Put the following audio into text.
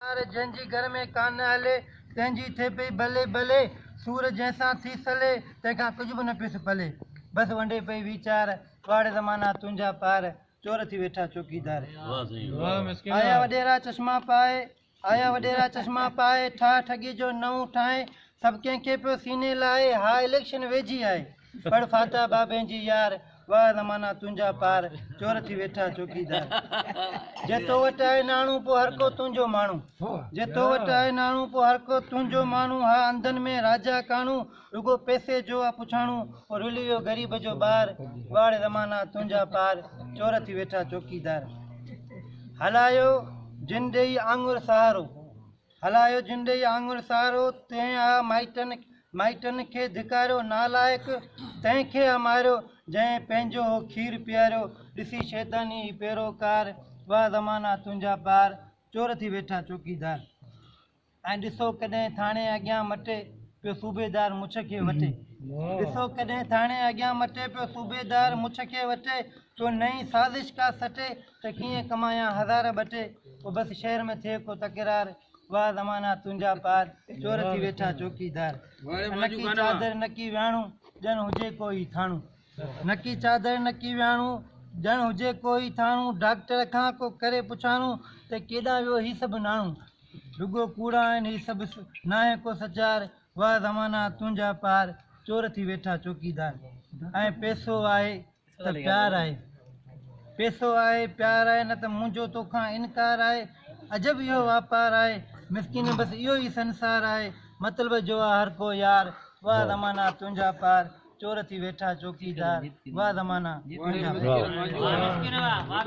يار جنهن جي گهر ۾ ڪانه هلي، تنهن جي ٿئي پئي بلي بلي، سور جنهن سان ٿي سلي، تنهن کان ڪجهه به نه پيس پلي، بس ونڊي پئي ويچار، ڪهاڙي زمانا تنهنجا پار، چور ٿي ويٺا چوڪيدار. آيا وڏيرا چشما پائي، آيا وڏيرا چشما پائي، ٺاهه ٺڳي جو نئون ٺاهين، سڀ ڪنهن کي پيو سيني لاهي، ها اليڪشن ويجهي آهي. پڙھ فاتحه بابين جي يار، واه زمانا تنھنجا پار، چور ٿي ويٺا چوڪيدار. جي تو وٽ آھي ناڻو پوء ھرڪو تنھنجو ماڻھو، جي تو وٽ آھي ناڻو پوء ھرڪو تنھنجو ماڻھو، ھا انڌن ۾ راجا ڪاڻو، رڳو پئسي جو آ پڇاڻو، او رلي ويو غريب جو ٻار، واڙ زمانا تنھنجا پار، چور ٿي ويٺا چوڪيدار. ھلايو جن ڏيئي آڱر سھارو، هلايو جنڊئي آڱر سارو، تنهن آ مائٽن مائٽن کي ڌڪاريو، نالائق تنهن کي آ ماريو، جنهن پنهنجو هو کير پياريو، ڏسي شيطاني هي پيروڪار، واهه زمانا تنهنجا پار، چور ٿي ويٺا چوڪيدار، ۽ ڏسو ڪڏهن ٿاڻي اڳيان مٽي پيو صوبيدار مڇ کي وٽي، ڏسو ڪڏهن ٿاڻي اڳيان مٽي پيو صوبيدار مڇ کي وٽي، ڪو نئين سازش ڪا سٽي، ته ڪيئن ڪمايان هزار ٻه ٽي او بس شهر ۾ ٿئي ڪو تڪرار واهه زمانا تنهنجا پار چور ٿي ويٺا چوڪيدار نڪي چادر نڪي وياڻو ڄڻ هجي ڪو هي ٿاڻو نڪي چادر نڪي وياڻو ڄڻ هجي ڪو هي ٿاڻو ڊاڪٽر کان ڪو ڪري پڇاڻو ته ڪيڏانهن ويو هي سڀ ناڻو رڳو ڪوڙا آهن هي سڀ ناهي ڪو سچار واهه زمانا تنهنجا پار چور ٿي ويٺا چوڪيدار ۽ پئسو آهي ته پيار آهي پيسو آهي پيار آهي نه ته منهنجو توکان انڪار آهي عجب اهو واپار آهي مسڪين بس اهو ئي سنسار آهي مطلب جو آ هر ڪو يار واهه زمانا تنهنجا پار چور ٿي ويٺا چوڪيدار واهه زمانا تنهنجا پار.